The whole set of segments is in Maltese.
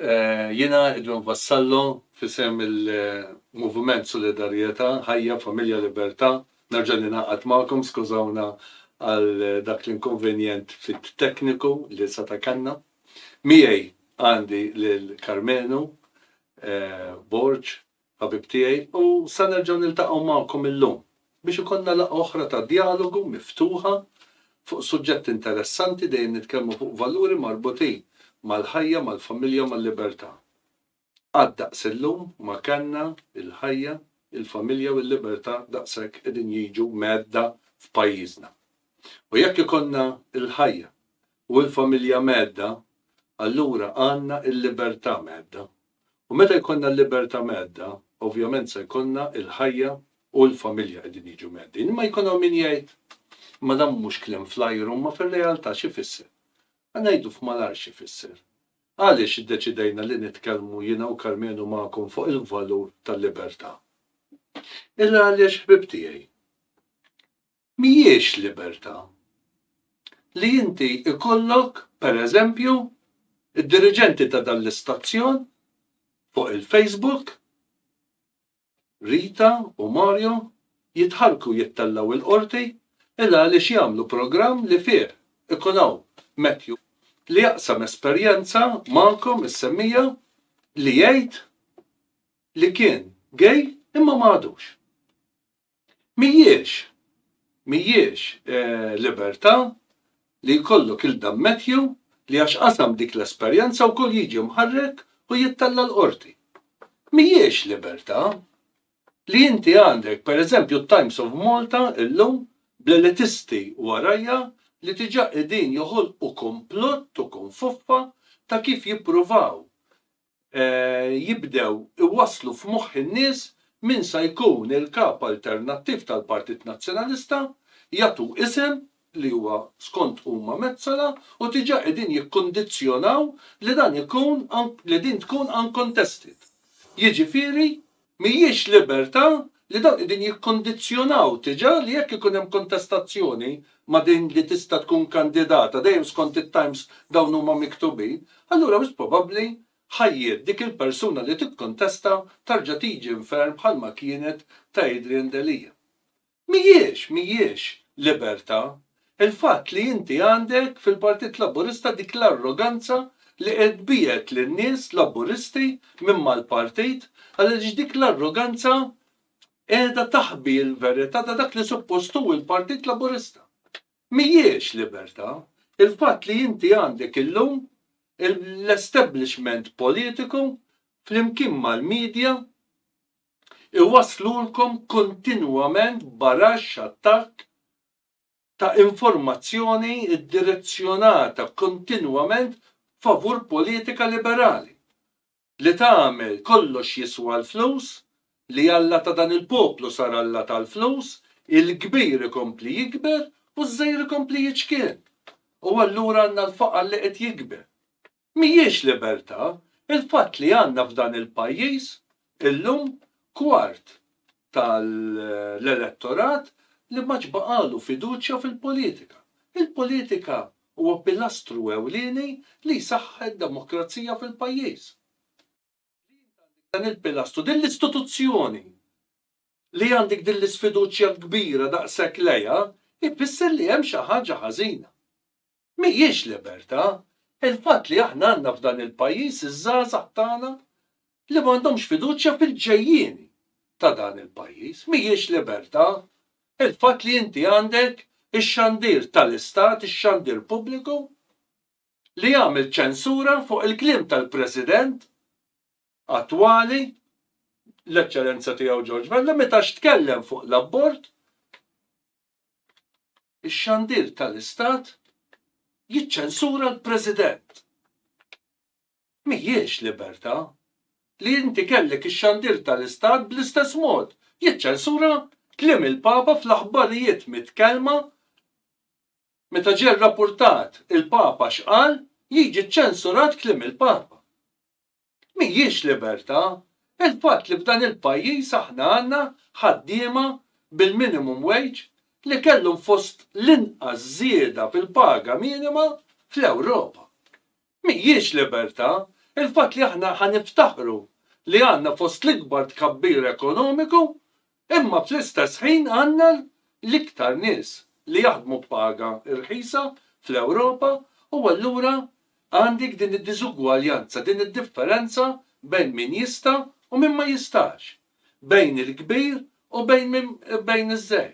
Jiena idu nvassallu f'isem il-Moviment Solidarjeta, Ħajja, Familja, Liberta, nerġa' ningħaqad magħkom, skużawna għal dak l-inkonvenjent ftit tekniku li seta' kellna. Miegħi għandi lil Karmenu Borg, Ħabib tiegħi, u sa nerġgħu niltaqgħu magħkom illum biex ikollna laqgħa oħra ta' djalogu, miftuħa, fuq suġġetti interessanti, dejjem nitkellmu fuq valuri marbutin mal-ħajja, mal-familja u mal-libertà. Qatt daqs illum ma kellna l-ħajja, il-familja u l-libertà daqshekk qegħdin jiġu mgħedda f'pajjiżna. U jekk ikollna l-ħajja u l-familja mgħedda, allura għandna l-libertà mgħedda. U meta jkollna l-libertà mhedda, ovvjament se jkollna l-ħajja u l-familja qegħdin jiġu mheddin. Imma jkun hawn min jgħid, Imma dan mhux kliem fl-ajru, imma fir-realtà x'ifisser? Ħa ngħidu f'malajr x'ifisser. Għaliex iddeċidejna li nitkellmu jiena u Karmenu magħkom fuq il-valur tal-libertà? Illa għaliex, ħbieb tiegħi. Mhijiex libertà. Li inti jkollok, per eżempju, id-diriġenti ta' dan l-istazzjon fuq il-Facebook, Rita u Mario, jitħarrku jittellgħu il-Qorti il għaliex jagħmlu programm li fih ikun hawn Matthew li jaqsam esperjenza magħkom is-semmija li jgħid li kien gay imma ma għadux. Mhijiex, mhijiex libertà li jkollok il-Dan Matthew li għax qasam dik l-esperjenza wkoll jiġi mħarrek u jittella' l-Qorti. Mhijiex libertà li inti għandek, per eżempju, t-Times of Malta illum bl-elitisti warajha li diġà qegħdin joħolqu kumplott u kunfuffa ta' kif jippruvaw jibdew iwasslu f'moħħ in-nies min sa jkun il-Kap alternattiv tal-Partit Nazzjonalista, jagħtu isem li huwa skont huma Metsola u diġà qegħdin jikkundizzjonaw li dan ikun li din tkun uncontested. Jiġifieri Mhijiex libertà li dawn qegħdin jikkondizzjonaw diġà li jekk ikun hemm kontestazzjoni ma' din li tista' tkun kandidata, dejjem skont it-times dawn huma miktubin, allura wis probabbli ħajjiet dik il-persuna li tikkontesta tarġa' tiġi inferm bħalma kienet ta' Adrian Delia. Mhijiex, mhijiex, libertà. Il-fatt li inti għandek fil-Partit Laburista dik l-arroganza li qed tbiegħed lin-nies Laburisti minn mal-partit għaliex dik l-arroganza qiegħda taħbi l-verità ta' dak li suppost hu l-Partit Laburista. Mhijiex libertà. Il-fatt li inti għandek illum l-establishment politiku flimkien mal-media, iwasslulkom kontinwament baraxx attakk ta' informazzjoni ddirezzjonata kontinwament favur politika liberali li tagħmel kollox jiswa l-flus, li Alla ta' dan il-poplu sar Alla tal-flus, il-kbir ikompli jikber u ż-żgħir ikompli jiċkien. U allura għandna l-faqar li qed jikber. Mhijiex libertà il-fatt li għandna f'dan il-pajjiż illum kwart tal-elettorat li m'għadx baqagħlu fiduċja fil-politika. Il-politika huwa pilastru ewlieni li jsaħħaħ id-demokrazija fil-pajjiż. Li int għandek dan il-pilastru, din l-istituzzjoni, li għandek din l-isfiduċja l-kbira daqshekk lejha, ifisser li hemm xi ħaġa ħażina. Mhijiex libertà, il-fatt li aħna għandna f'dan il-pajjiż iż-żgħażagħ tagħna li m'għandhomx fiduċja fil-ġejjieni ta' dan il-pajjiż. Mhijiex libertà, il-fatt li inti għandek ix-xandir tal-istat, ix-xandir pubbliku, li jagħmel ċensura fuq il-kliem tal-President attwali, l-Eċċellenza Tiegħu George Vella, meta x'tkellem fuq l-abort, ix-xandir tal-Istat jiċċensura l-President. Mhijiex libertà li inti kellek ix-xandir tal-Istat bl-istess mod jiċċensura kliem il-Papa fl-aħbarijiet mitkellma Meta ġie rrappurtat il-Papa x'qal, jiġi ċċensurat kliem il-Papa. Mhijiex libertà il-fatt li f'dan il-pajjiż aħna għandna ħaddiema bil-minimum wage li kellhom fost l-inqas żieda fil-paga minima fl-Ewropa. Mhijiex libertà il-fatt li aħna ħa niftaħru li għandna fost l-ikbar tkabbir ekonomiku imma fl-istess ħin għandna l-iktar nies li jaħdmu b'paga rħisa fl-Ewropa u allura għandik din id-diżugwaljanza, din id-differenza bejn min jista' u min ma jistax, bejn il-kbir u bejn iż-żgħir.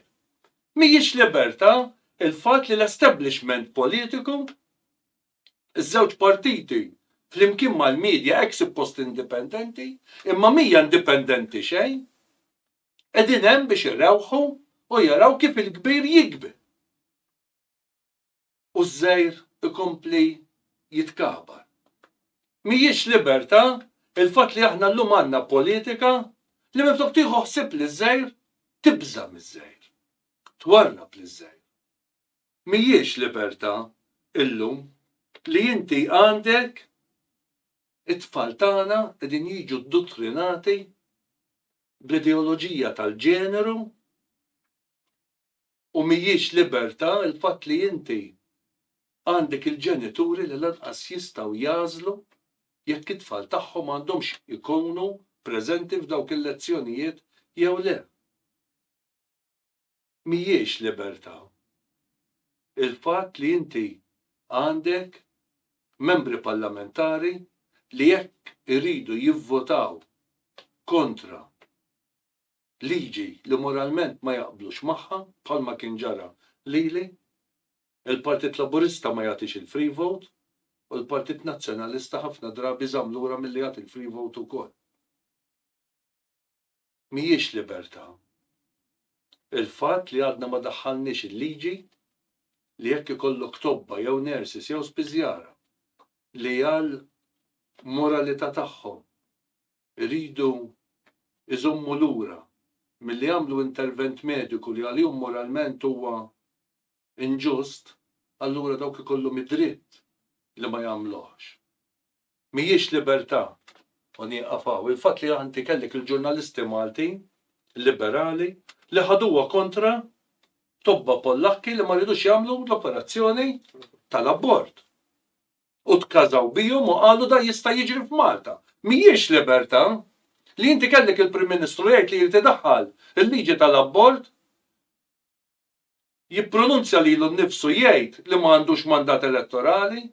Mhijiex libertà il-fatt li l-establishment politiku, Iż-żewġ partiti, flimkien mal-media hekk suppost indipendenti, imma mhija indipendenti xejn, qegħdin hemm biex irewħu u jaraw kif il-kbir jikbi u ż-żgħir ikompli jitkabar. Mhijiex libertà il-fatt li aħna llum għandna politika li minflok tieħu ħsieb liż-żgħir, tibża' miż-żgħir. Twarrab liż-żgħir. mhijiex libertà illum li inti għandek it-tfal tagħna qegħdin jiġu ddottrinati bl-ideoloġija tal-ġeneru u mhijiex libertà l-fatt li inti għandek il-ġenituri li lanqas jistgħu jagħżlu jekk it-tfal tagħhom għandhomx ikunu preżenti f'dawk il-lezzjonijiet jew le. mhijiex libertà. Il-fatt li inti għandek Membri Parlamentari li jekk iridu jivvotaw kontra liġi li moralment ma jaqblux magħha, bħalma kien ġara lili, il-Partit Laburista ma jagħtix il-free vote u l-Partit Nazzjonalista ħafna drabi żamm lura milli jagħti l-free vote ukoll. mhijiex libertà. Il-fatt li għadna ma daħħalniex il-liġi li jekk ikollok tobba jew nurses jew spiżjara li għal moralità tagħhom iridu iżommu lura milli jagħmlu intervent mediku li għalihom moralment huwa inġust, allura dawk ikollhom id-dritt li ma jagħmluhx. Mhijiex libertà, u nieqaf hawn, il-fatt li inti kellek il-ġurnalisti Malti, liberali, li ħaduha kontra tobba Pollakki li ma ridux jagħmlu l-operazzjoni tal-abort. U tkażaw bihom u qalu da jista' jiġri f'Malta. Mhijiex libertà li inti kellek il-Prim Ministru jgħid li jrid idaħħal il-liġi tal-abort jippronunzja lilu nnifsu jgħid li ma għandux mandat elettorali,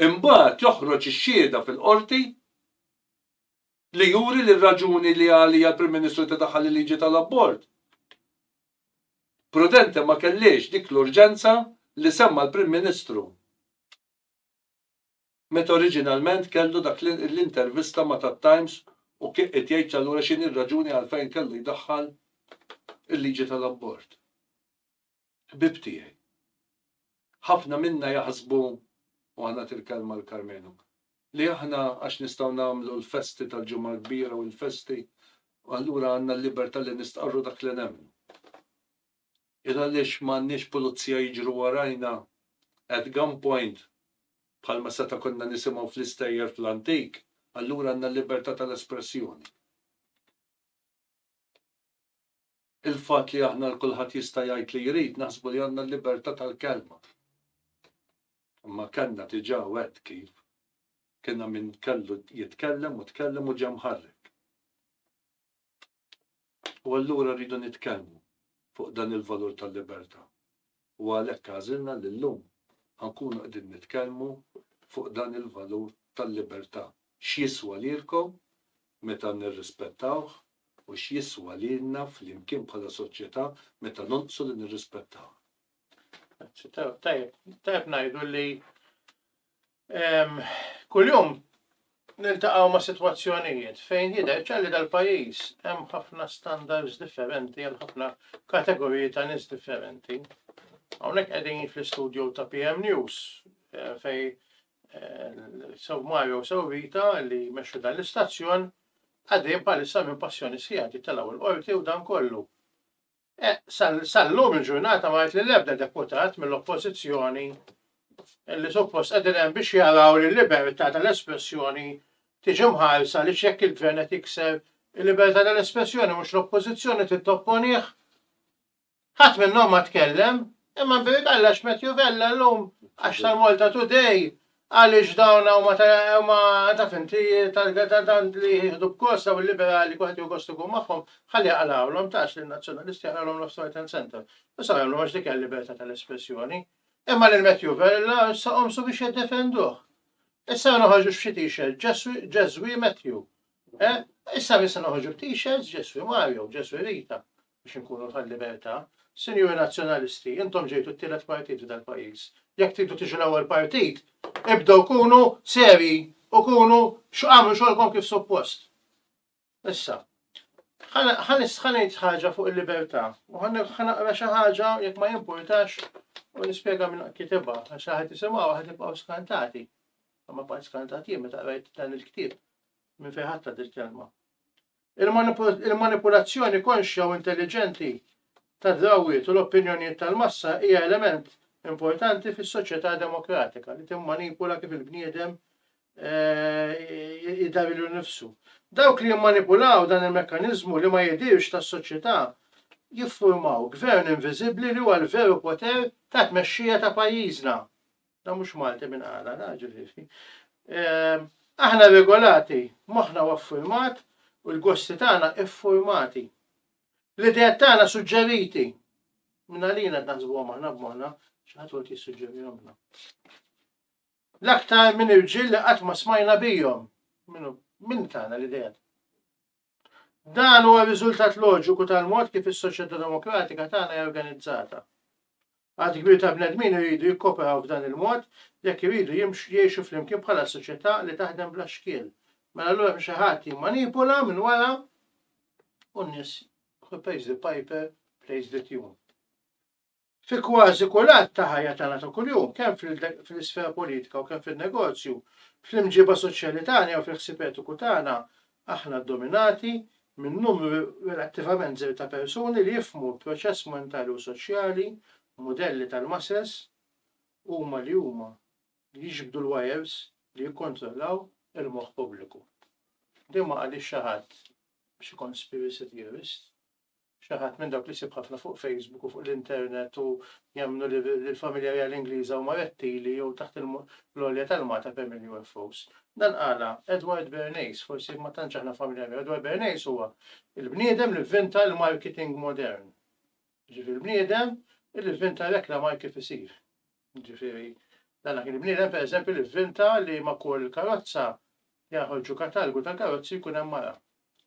imbagħad joħroġ ix-xhieda fil-Qorti li juri li r-raġuni li għaliha l-Prim Ministru tidaħħal il-liġi tal-abort prudenti ma kellhiex dik l-urġenza li semma l-Prim Ministru. Meta oriġinalment kellu dak l-intervista ma' tat-Times u kien qed jgħid allura x'inhi r-raġuni għalfejn kellu jdaħħal il-liġi tal-abort. Ħbieb tiegħi. Ħafna minna jaħsbu, u ħa nagħti l-kelma lil Karmenu, li aħna għax nistgħu nagħmlu l-festi tal-Ġimgħa l-Kbira u l-festi allura għandna l-libertà li nistqarru dak li nemmnu. Jien għaliex m'għandniex pulizija jiġru warajna at gun point bħalma seta' konna nisimgħu fl-istejjer fl-antik, allura għandna l-libertà tal-espressjoni. Il-fatt li aħna l kulħadd jista' jgħid li jrid naħsbu li għandna l-libertà tal-kelma. Imma kellna diġà u għedt kif kienha min kellu jitkellem u tkellem u ġie mħarrek. U allura rridu nitkellmu fuq dan il-valur tal-libertà. U għalhekk għażilna li llum ħa nkunu qegħdin nitkellmu fuq dan il-valur tal-libertà, x'jiswa lilkom meta nirrispettawh u x'jiswa lilna flimkien bħala soċjetà meta nonqsu li nirrispettawh. Grazzi. Tajjeb ngħidu li Kuljum niltaqgħu ma' sitwazzjonijiet fejn jidher ċar li dal-pajjiż hemm ħafna standards differenti għal ħafna kategoriji ta' nies differenti. Hawnhekk qegħdin fl-istudju ta' PM News eh, fej eh, sew Mario sew Vita li jmexxu dan l-istazzjon għaddejn bħalissa minn passjoni sħiħa titelaw il-qorti u dan kollu. Sal-lum il-ġurnata ma li l-ebda deputat mill-oppożizzjoni li suppost qegħdin hemm biex jaraw li l-libertà tal-espressjoni tiġi mħarsa li x'jekk il-gvern qed jikser il-libertà tal-espressjoni mhux l-oppożizzjoni trid topponih. Ħadd minnhom ma tkellem Imma bini Kallax Matthew Vella llum għax tal-Malta Today għaliex dawn huma huma taf inti tant li jieħdu b'gost dawn il-liberali kulħadd jieħu gost ikun magħhom, ħalli jaqralhom tgħax lin-Nazzjonalisti jaqralhom Left Right and Centre. Issa jagħmlu għax dik hija l-libertà tal-espressjoni. Imma lil Matthew Vella issa qomsu biex jiddefenduh. Issa ma noħorġux f'xi t-shirt Ġeswi Matthew. Eh? Issa issa noħorġu b't-shirts Ġeswi Mario, Ġeswi Rita. biex inkunu tal-libertà. Sinjuri Nazzjonalisti, intom ġejtu t-tielet partit f'dal-pajjiż. Jekk tridu tiġu l-ewwel partit, ibdew kunu serji u kunu x'għamlu xogħolkom kif suppost. Issa, ħanejt ħaġa fuq il-libertà u ħanaqra xi ħaġa jekk ma jimpurtax u nispjega minn kitibha għax ħadd isimgħu ħadd ibqgħu skantati. Ma bqgħet skantati meta qrajt dan il-ktieb minn fejn ħadd il-kelma. Il-manipulazzjoni konxja u intelliġenti tad-drawwiet u l-opinjonijiet tal-massa hija element importanti fis-soċjetà demokratika li timmanipula kif il-bniedem jidher lilu nnifsu. Dawk li jimmanipulaw dan il-mekkaniżmu li ma jidhirx tas-soċjetà jiffurmaw gvern inviżibbli li huwa l-veru poter ta' tmexxija ta' pajjiżna. Da mhux Malti minn għala, da ġifieri. Ehm, aħna regolati, moħħna huwa ffurmat u l-gosti tagħna iffurmati. L-idea tagħna suġġeriti. Minn għalina qed naħsbuhom aħna b'moħħna x'ħadd wieħed jissuġġerihomna. L-aktar minn irġiel li qatt ma smajna bihom. Minn tagħna l-idea. Dan huwa riżultat loġiku tal-mod kif is-soċjetà demokratika tagħna hija organizzata. Għad kbir ta' bnedmin iridu jikkoperaw f'dan il-mod jekk iridu jimxu jgħixu flimkien bħala soċjetà li taħdem bla xkiel. Mela allura hemm xi ħadd jimmanipula minn wara u n-nies who pays the piper plays the tune. Fi kważi kull att ta' ħajja tagħna ta' kuljum, kemm fl-isfera politika u kemm fin-negozju, fl-imġiba soċjali tagħna jew fil-ħsieb etiku tagħna, aħna ddominati minn numru relattivament żgħir ta' persuni li jifhmu l-proċess mentali u soċjali, mudelli tal-masses, huma li huma li jiġbdu l-wajers li jikkontrollaw il-moħħ pubbliku. Din ma qalhiex xi ħadd biex ikun spiracy theorist. Xi ħadd minn dawk li ssib ħafna fuq Facebook u fuq l-internet u jemmnu li l-familja reali Ingliża huma rettili jew taħt il-għolja tal-Malta permm il-UFOs. Dan qalha Edward Bernays, forsi ma tantx aħna familja miegħu. Edward Bernays huwa il-bniedem li vvinta l-marketing modern. Ġifieri l-bniedem li vvinta rekla marki fisir. Ġifieri, dan kien bniedem pereżempju li vvinta li ma' kull karozza li jaħorġu katalgu tal-karozzi jkun hemm mara.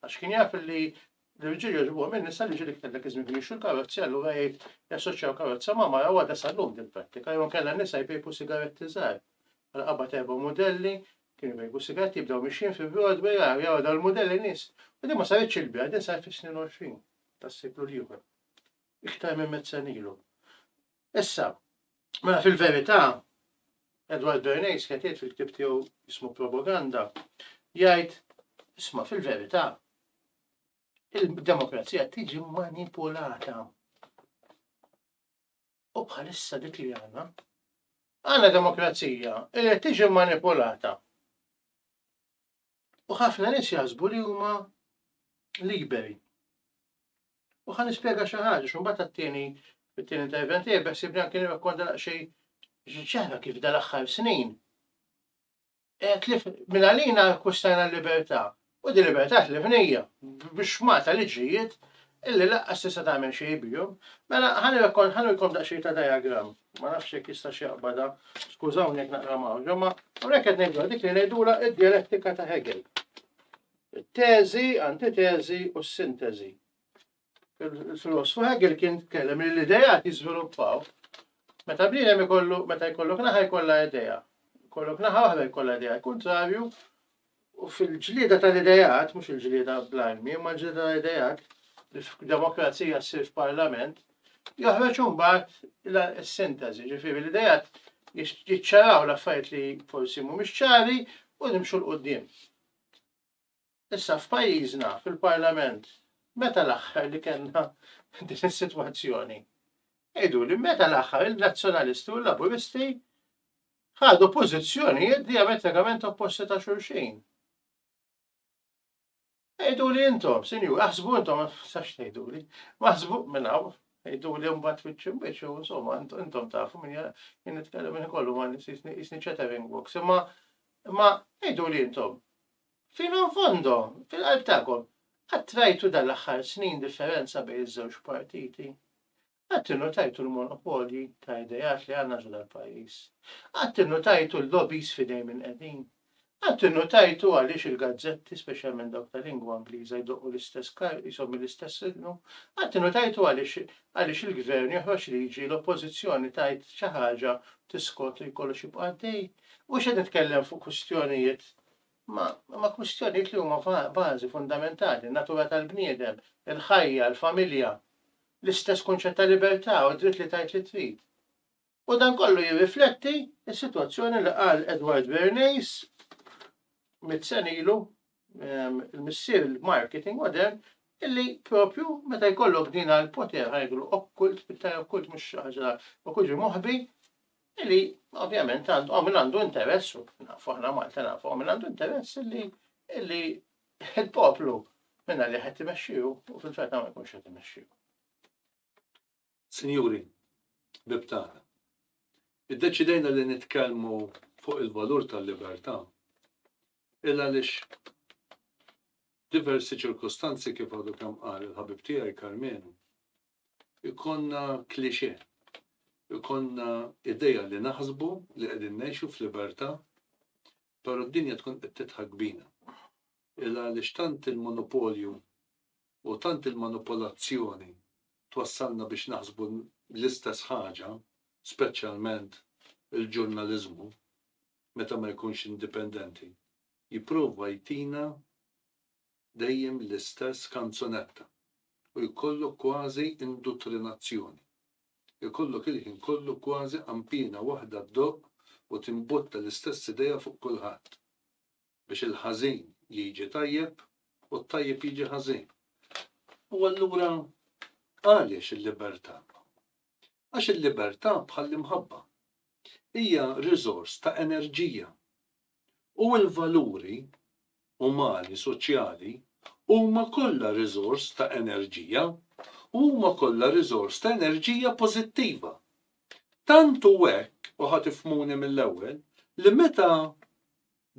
Għax kien jaf li l-irġiel jogħġbuhom in-nisa li ġieli iktar dak iż-żmien kienu jixtru l-karozzi allura jgħid jassoċjaw karozza ma' mara u għadha sal-lum din prattika jew inkella n-nisa jpejpu sigaretti żgħar. Bħala qabad erba' mudelli kienu jpejpu sigaretti jibdew mixjin fi Broadway ara jaraw dawn il-mudelli nies. U din ma saritx il-biha, din saret fis-snin 20 tas-seklu l-ieħor. Iktar minn mitt sena ilu. Issa, mela fil-verità, Edward Bernays qed jgħid fil-ktieb tiegħu jismu Propaganda, jgħid, isma' fil-verità, il-demokrazija tiġi manipulata. U bħalissa dik li għandna, għandna demokrazija li tiġi manipulata. U ħafna nies jaħsbu li huma liberi. U ħan nispjega xi ħaġa, x'imbagħad għat-tieni fit-tieni intervent tiegħi beħsibni anke nirrakkonta xejn ġara kif dal-aħħar snin. E, tlif minn għalina kwistajna l-libertà. U di libertà tlifnija biex mata liġijiet Illi laqqas tista' tagħmel xejn bihom. Mela ħa nurikom daqsxejn ta' diagram. Ma nafx jekk jistax jaqbadha. Skużawni jekk naqra mawġa, ma hawnhekk qed ngħidulha dik li ngħidulha d-djalettika ta' Hegel. Teżi, antiteżi u s-sinteżi. Il-filosfu Hegel kien tkellem li l-idejat jiżviluppaw meta bniedem ikollu meta jkollok naħa jkollha idea. Jkollok naħa waħda jkollha idea, kontrarju U fil-ġlieda tal-ideat, mhux il-ġlieda bl-armi, imma l-ġlieda tal-ideat, li f'demokrazija ssir f'parlament, joħroġ imbagħad is-sintażi, ġifieri l-ideat jiċċaraw l-affarijiet li forsi mhumiex ċari u nimxu 'l quddiem. Issa f'pajjiżna, fil-parlament, meta l-aħħar li kellna din is-sitwazzjoni? Għiduli, meta l-aħħar in-Nazzjonalisti u l-Laburisti ħadu pożizzjonijiet diametrikament opposti ta' xulxin. Ejdu li intom, sinju, aħsbu intom, sax tejdu li, maħsbu minnaw, ejdu li mbat fiċċim biex, insomma, intom tafu minn jien nitkellem minn kollu ma nisni ċetering box, imma imma ejdu li intom. Fino fondo, fil-qalb tagħkom, għattrajtu dal-aħħar snin differenza bejn iż-żewġ partiti. Qatt innutajtu l-monopolji ta' ideat li għandna ġo dal-pajjiż? Qatt innutajtu l-lobbies f'idejn min qegħdin? Qatt innutajtu għaliex il-gazzetti, speċjalment dawk ta' lingwa Ingliża, jdoqqu l-istess karg qishom mill-istess ilqnu? Qatt innutajtu għaliex għaliex il-Gvern joħroġ liġi, l-Oppożizzjoni tgħid xi ħaġa, tiskot u kollox jibqa' għaddej? Mhux qed nitkellem fuq kwistjonijiet ma, ma kwistjonijiet li huma bażi fundamentali, natura tal-bniedem, il-ħajja, il-familja. l-istess kunċett ta' libertà u d-dritt li tgħid li trid. U dan kollu jirrifletti s-sitwazzjoni li qal Edward Bernays mit senilu ehm, il-missier il-marketing modern illi propju meta jkollok din għal poter ħajglu okkult, pittar okkult mux ħaġa u kuġi moħbi, illi ovvjament għandu għamil għandu interess, nafu ħna Malta nafu għamil għandu interess illi illi il-poplu minna li ħed imexxiju u fil-fetta ma jkunx ħed imexxiju. Sinjuri, bibtana, id-deċidejna li nitkelmu fuq il-valur tal-libertà illa lix diversi ċirkustanzi kif għadu kam qal il-ħabib tiegħi Karmenu, ikonna klixe, ikonna ideja li naħsbu li qegħdin ngħixu f'libertà Pero d-dinja tkun qed tidħak bina. Il għaliex tant il-monopolju u tant il-manupolazzjoni twassalna biex naħsbu l-istess ħaġa, speċjalment il-ġurnaliżmu, meta ma jkunx indipendenti, jipprova jtina dejjem l-istess kanzunetta u jkollok kważi induttrinazzjoni. Ikollok il-ħin kollu kważi qanpiena waħda ddoqq u timbotta l-istess idea fuq kulħadd. Biex il-ħażin jiġi tajjeb u t-tajjeb jiġi ħażin. U allura għaliex il-libertà? Għax il-libertà bħall-imħabba. Hija riżors ta' enerġija. u l-valuri umani soċjali huma kollha riżors ta' enerġija u huma kollha riżors ta' enerġija pożittiva. Tant hu hekk, u ħa tifhmuni mill-ewwel, li meta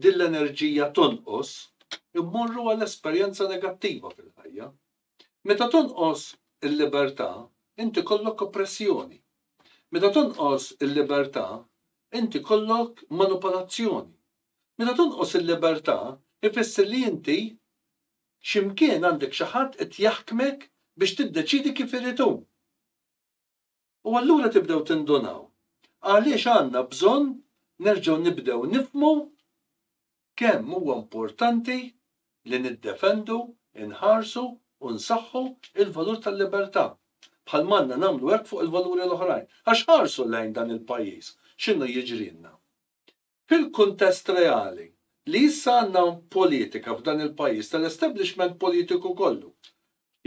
din l-enerġija tonqos, immorru għal esperjenza negattiva fil-ħajja. Meta tonqos il-libertà, int ikollok oppressjoni. Meta tonqos il-libertà, int ikollok manupolazzjoni. Meta tonqos il-libertà, ifisser li inti x'imkien għandek xi ħadd qed jaħkmek biex tiddeċiedi kif irid hu. U allura tibdew tindunaw għaliex għandna bżonn nerġgħu nibdew nifhmu kemm huwa importanti li niddefendu, inħarsu u nsaħħu l-valur tal-libertà, bħalma għandna nagħmlu hekk fuq il-valuri l-oħrajn. Għax ħarsu lejn dan il-pajjiż x'inhu jiġrilna. Fil-kuntest reali, li issa għandna politika f'dan il-pajjiż tal-establishment politiku kollu,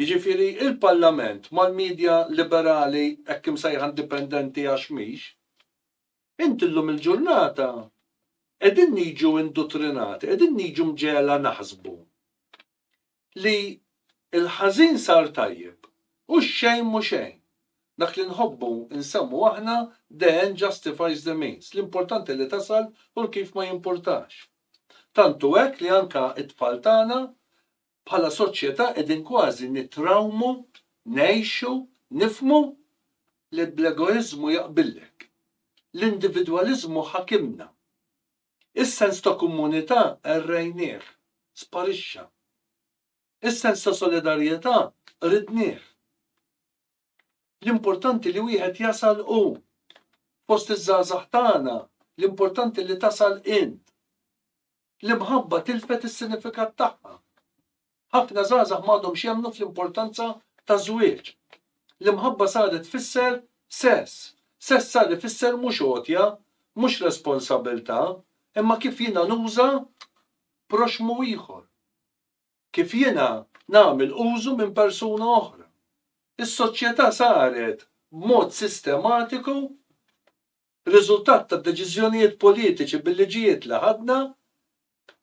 jiġifieri l-Parlament mal-media liberali hekk imsejħa indipendenti għax mhix, inti llum il-ġurnata qegħdin niġu indutrinati, qegħdin niġu mġegħla naħsbu Li l-ħażin sar tajjeb, u x-xejn mhu xejn. Dak li nħobbu nsemmhu aħna the end justifies the means, l-importanti li tasal u l-kif ma jimpurtax. Tant hu hekk li anke t-tfal tagħna, bħala soċjetà qegħdin kważi nittrawmu, ngħixu, nifhmu li bl-egoiżmu jaqbillek. L-individwaliżmu ħakimna. Is-sens ta' komunità errejnieh, sparixxa. Is-sens ta' solidarjetà ridnieh. L-importanti li wieħed jasal hu. Fost iż-żgħażagħ tagħna, l-importanti li tasal int. L-imħabba tilfet is-sinifikat tagħha. Ħafna żgħażagħ m'għadhomx jemmnu fl-importanza taż-żwieġ. L-imħabba saret tfisser sess. Sess sar ifisser mhux għotja, mhux responsabbiltà, imma kif jiena nuża proxxmu ieħor. Kif jiena nagħmel użu minn persuna oħra. Is-soċjetà saret b'mod sistematiku riżultat tad-deċiżjonijiet politiċi bil-liġijiet li ħadna,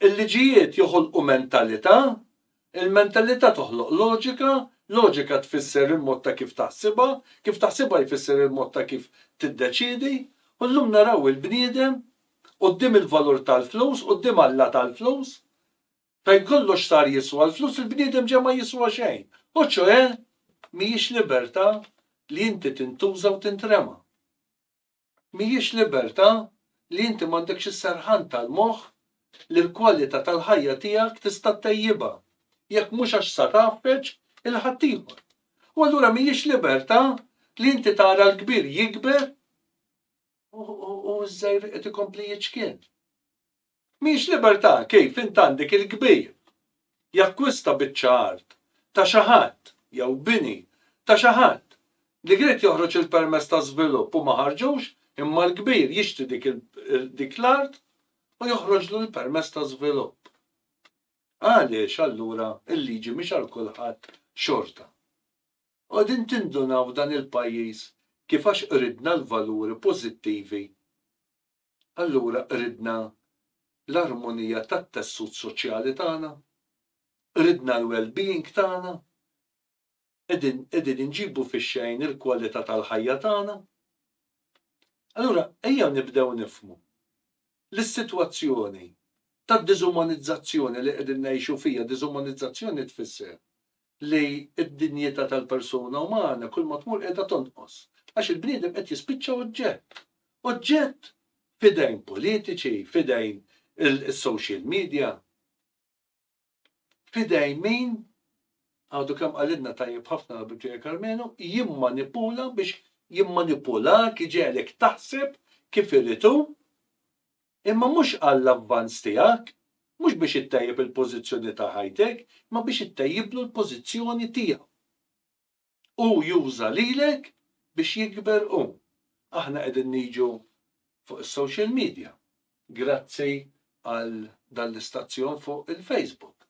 il-liġijiet joħolqu mentalità, il-mentalità toħloq loġika, loġika tfisser il-mod ta' kif taħsibha, kif taħsibha jfisser il-mod ta' kif tiddeċiedi, u llum naraw il-bniedem quddiem il-valur tal-flus, quddiem Alla tal-flus, Fejn kollox sar jiswa l-flus il-bniedem ġa ma jiswa xejn. U ċoe mhijiex libertà li inti tintuża u tintrema. Mhijiex libertà li inti m'għandekx is-serħan tal-moħħ li l-kwalità tal-ħajja tiegħek tista' ttejjibha jekk mhux għax sar tgħaffeġ 'il ħaddieħor. U allura mhijiex libertà li inti tara l-kbir jikber u ż-żgħir qed ikompli jiċkien. Mhix libertà kif int għandek il-kbir jakkwista biċċa art ta' xi ħadd jew bini ta' xi ħadd li kried joħroġ il-permess ta' żvilupp u ma ħarġux imma l-kbir jixtri dik l-art u joħroġlu l-permess ta' żvilupp. Għaliex allura l-liġi mhix għal kulħadd xorta? Qegħdin tindunaw f'dan il-pajjiż kif għax qridna l-valuri pożittivi allura qridna l-armonija tat-tessut soċjali tagħna, qridna l-well-being tagħna, qegħdin qegħdin inġibu fix-xejn il-kwalità tal-ħajja tagħna. Allura ejjew nibdew nifhmu li s-sitwazzjoni tad-diżumanizzazzjoni li qegħdin ngħixu fiha, diżumanizzazzjoni tfisser li d-dinjità tal-persuna umana kulma tmur qiegħda tonqos, għax il-bniedem qed jispiċċa oġġett. Oġġett f'idejn politiċi, f'idejn is-social media, f'idejn min, għadu kemm qalilna tajjeb ħafna l-Abitwija Karmenu, jimmanipula biex jimmanipulak, iġegħlek taħseb kif irid hu, Imma mhux għall-avvanz tiegħek, mhux biex ittejjeb il-pożizzjoni ta' ħajtek, imma biex ittejjiblu l-pożizzjoni tiegħu. Hu juża lilek biex jikber hu. Aħna qegħdin niġu fuq is-social media grazzi għal dan l-istazzjon fuq il-Facebook.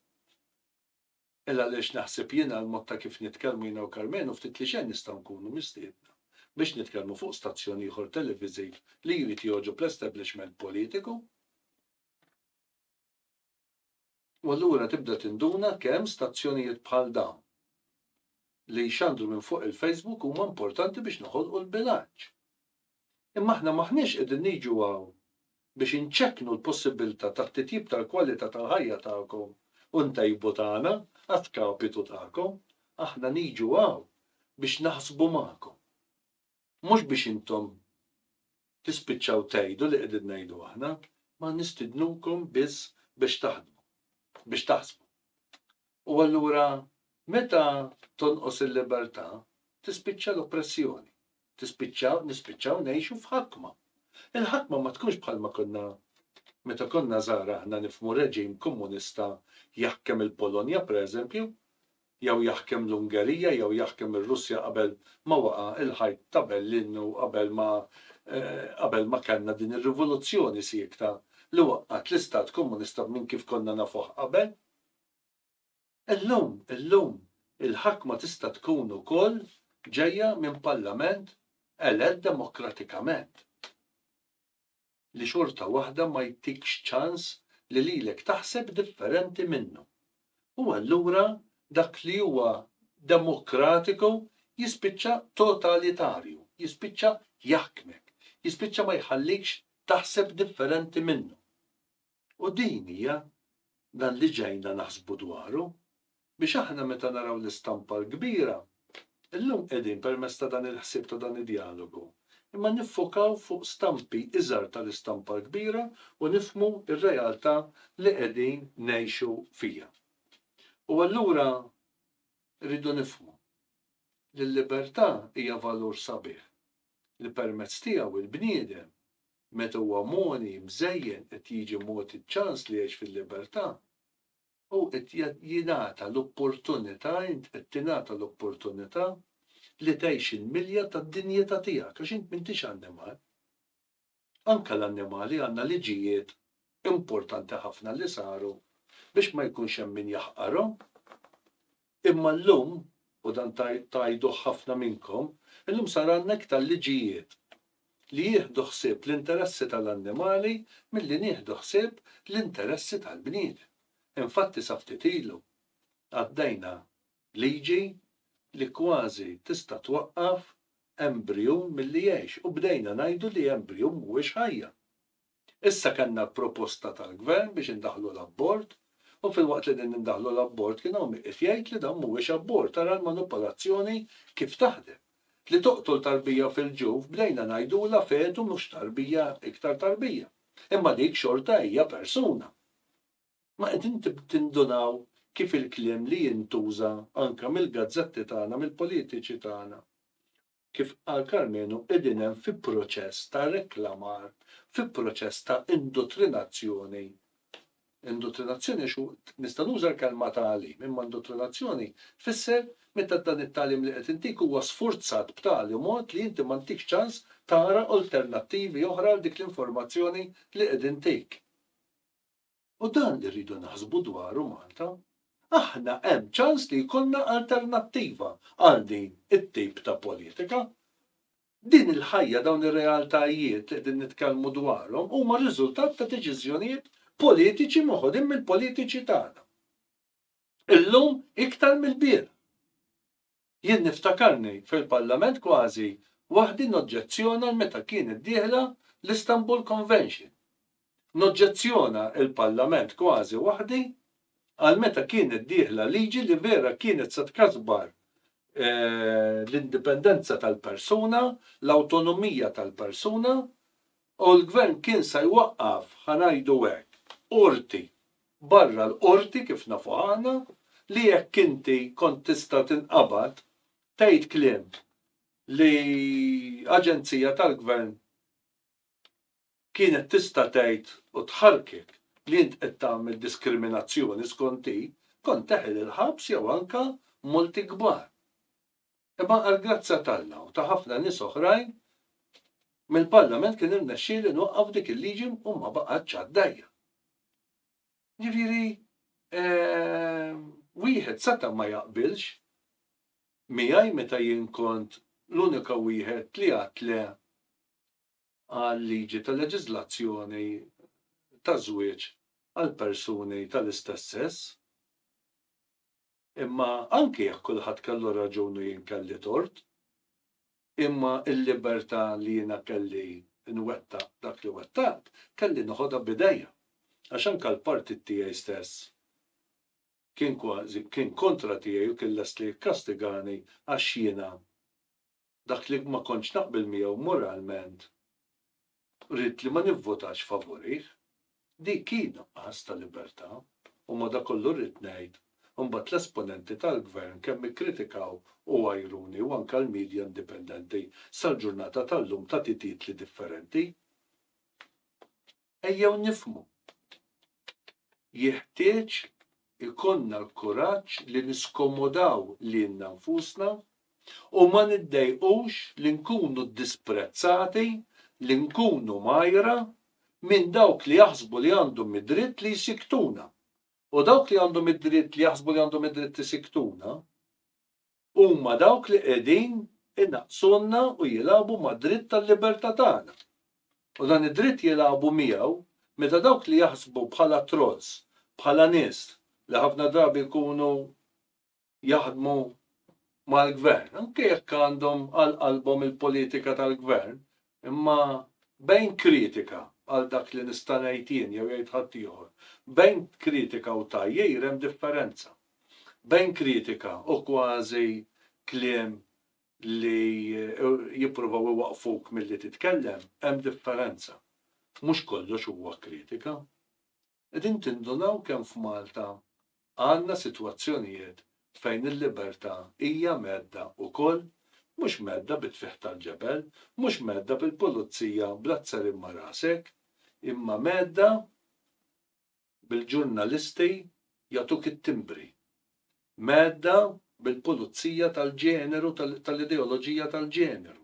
Hell għaliex naħseb jien għal mod ta' kif nitkellmu jiena u Carmenu u ftit li xejn nistgħu nkunu mistiedna biex nitkellmu fuq stazzjon ieħor televiżiv li jrid jogħġob l-establishment politiku u allura tibda tinduna kemm stazzjonijiet bħal dawn li jxandru minn fuq il-Facebook huma importanti biex noħolqu l-bilanċ. Imma aħna m'aħniex qegħdin niġu hawn biex inċekknu l-possibbiltà ta' titjib tal-kwalità tal-ħajja tagħkom u ntejbu tagħna a skapitu tagħkom. Aħna niġu hawn biex naħsbu magħkom. Mhux biex intom tispiċċaw tgħidu li qegħdin ngħidu aħna, ma nistidnukom biss biex taħdmu, biex taħsbu. U allura meta tonqos il-libertà, tispiċċa l-oppressjoni. Tispiċċa, nispiċċaw ngħixu f'ħakma. Il-ħakma ma tkunx bħalma konna meta konna żgħar aħna nifhmu reġim komunista jaħkem il-Polonja pereżempju, jew jaħkem l-Ungerija jew jaħkem ir-Russja qabel ma waqa' il-ħajt ta' Berlin u qabel ma qabel ma kellna din ir-rivoluzzjoni siekta li waqqgħet l-istat komunista minn kif konna nafuh qabel. Illum, illum, il-ħakma tista' tkun ukoll ġejja minn Parlament elett demokratikament, li xorta waħda ma jtikx ċans li lilek taħseb differenti minnu. U allura dak li huwa demokratiku jispiċċa totalitarju, jispiċċa jaħkmek, jispiċċa ma jħallikx taħseb differenti minnu. U din hija dan li ġejna naħsbu dwaru, biex aħna meta naraw l-istampa l-kbira, illum qegħdin permezz ta' dan il-ħsieb ta' dan id-djalogu, imma niffokaw fuq stampi iżgħar tal-istampa l-kbira u nifhmu r-realtà li qegħdin ngħixu fiha. U allura rridu nifhmu li l-libertà hija valur sabiħ li permezz tiegħu l-bniedem meta huwa mogħni, mżejjen, qed jiġi mogħti ċ-ċans li jgħix fil-libertà, hu qed jingħata l-opportunità, int qed tingħata l-opportunità li tgħix il-milja tad-dinjità tiegħek, għax int m'intix annimal. Anke l-annimali għandna liġijiet importanti ħafna li saru biex ma jkunx hemm min jaħqarhom. Imma llum, u dan tgħiduh ħafna minnkom, illum sar għandna iktar liġijiet li jieħdu ħsieb l-interessi tal-annimali milli nieħdu ħsieb l-interessi tal-bniedem. Infatti sa ftit ilu għaddejna liġi li kważi tista' twaqqaf embriju milli jgħix u bdejna ngħidu li embriju mhuwiex ħajja. Issa kellna proposta tal-Gvern biex indaħħlu l-abort u filwaqt li qegħdin indaħħlu l-abort kien hawn min qiegħed jgħid li dan mhuwiex abort, ara l-manupolazzjoni kif taħdem. Li toqtol tarbija fil-ġuf bdejna ngħidulha fetu mhux tarbija iktar tarbija. Imma dik xorta hija persuna. Ma qegħdin tindunaw kif il-kliem li jintuża anke mill-gazzetti tagħna, mill-politiċi tagħna Kif qal Karmenu qegħdin hemm fi proċess ta' reklamar, fi proċess ta' indottrinazzjoni. Indottrinazzjoni għax hu nista' nuża l-kelma tagħlim, imma indottrinazzjoni tfisser meta dan it-tagħlim li qed intik huwa sfurzat b'tali mod li inti ma ntikx ċans tara alternattivi oħra għal dik l-informazzjoni li qed intik. U dan li rridu naħsbu dwaru Malta, aħna hemm ċans li jkollna alternattiva għal din it-tip ta' politika. Din il-ħajja, dawn ir-realtajiet li qegħdin nitkellmu dwarhom huma riżultat ta' deċiżjonijiet politiċi moħodin mill-politiċi tagħna. Illum iktar mill-bieraħ. Jien niftakarni fil-Parlament kważi waħdi noġġezzjona għal meta kienet dieħla l-Istanbul Convention. Noġġezzjona il-Parlament kważi waħdi għal meta kienet dieħla liġi li vera kienet se tkasbar l-indipendenza tal-persuna, l-awtonomija tal-persuna, U l-Gvern kien se jwaqqaf, ħa ngħidu hekk, qorti, barra l-qorti kif nafuha aħna, li jekk inti kont tista' tinqabad tgħid kliem li aġenzija tal-Gvern kienet tista' tgħid u tħarrkek li int qed tagħmel diskriminazzjoni skont hi, kont teħel il-ħabs jew anke multi kbar. Imma għall-grazzja t'Alla u ta' ħafna nies oħrajn mill-Parlament kien irnexxieli nwaqqaf dik il-liġi u ma baqgħetx għaddajja. Ġifieri wieħed seta' ma jaqbilx miegħi meta jien kont l-unika wieħed li għadt le għal-liġi ta' leġiżlazzjoni ta' żwieġ għal persuni tal-istess sess. Imma anki jekk kulħadd kellu raġun u jien kelli tort, imma l-libertà li jiena kelli nwettaq dak li wettaqt, kelli noħodha b'idejja. Għax anke l-partit tiegħi stess kien kważi, kien kontra tiegħi u kien lest li jikkastigani għax jiena dak li ma kontx naqbel miegħu moralment ridt li ma nivvotax favurih. Dik hi nuqqas ta' libertà u madankollu rrid ngħid imbagħad l-esponenti tal-Gvern kemm ikkritikaw u għajruni u anke l-media indipendenti sal-ġurnata tal-lum tagħti titli differenti. Ejjew nifhmu. Jeħtieġ ikollna l-kuraġġ li niskomodaw lilna nfusna u ma niddejqux li nkunu disprezzati, li nkunu mgħajra minn dawk li jaħsbu li għandhom id-dritt li jsikkutuna. U dawk li għandhom id-dritt li jaħsbu li għandhom id-dritt isikkutuna, Huma dawk li qegħdin inaqqsulna u jilagħbu mad-dritt tal-libertà tagħna. U dan id-dritt jilagħbu miegħu meta dawk li jaħsbu bħala trolls, bħala nies li ħafna drabi jkunu jaħdmu mal-gvern, anke jekk għandhom għal qalbhom il-politika tal-gvern, Imma bejn kritika għal dak li nista' ngħid jien jew jgħid ħaddieħor, bejn kritika u tgħajjir hemm differenza. Bejn kritika u kważi kliem li jippruvaw iwaqqfuk milli titkellem hemm differenza. Mhux kollox huwa kritika. qegħdin tindunaw kemm f'Malta għandna sitwazzjonijiet fejn il-libertà hija mhedda ukoll, mhux mhedda bit-tfigħ tal-ġebel, mhux mhedda bil-pulizija bl-azzar imma rasek, imma mhedda bil-ġurnalisti jagħtuk it-timbri, mhedda bil-pulizija tal-ġeneru, tal-ideoloġija tal-ġeneru,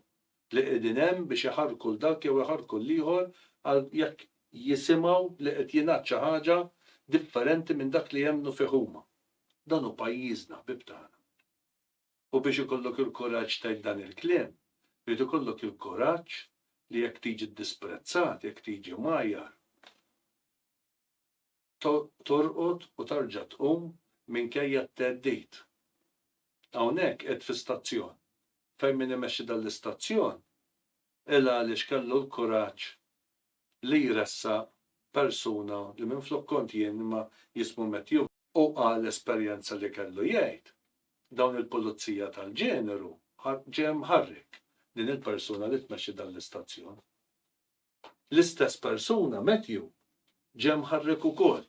li qegħdin hemm biex iħarrku 'l dak jew iħarrku 'l ieħor għal jekk jisimgħu li qed jingħad xi ħaġa differenti minn dak li jemmnu fih huma. Dan hu pajjiżna, ħbieb tagħna. U biex ikollok il-kuraġġ tgħid dan il-kliem, irid ikollok il-kuraġġ li jekk tiġi ddisprezzat, jekk tiġi mgħajjar, torqod u terġa' tqum minkejja t-theddid. Hawnhekk qiegħed fi stazzjon. Fejn min imexxi dan l-istazzjon qilha għaliex kellu l-kuraġġ li jressaq persuna li minflok kont jien imma jismu Matthew, u qal esperjenza li kellu jgħid, dawn il-pulizija tal-ġeneru ġie mħarrek din il-persuna li tmexxi dan l-istazzjon. L-istess persuna, Matthew, ġie mħarrek ukoll.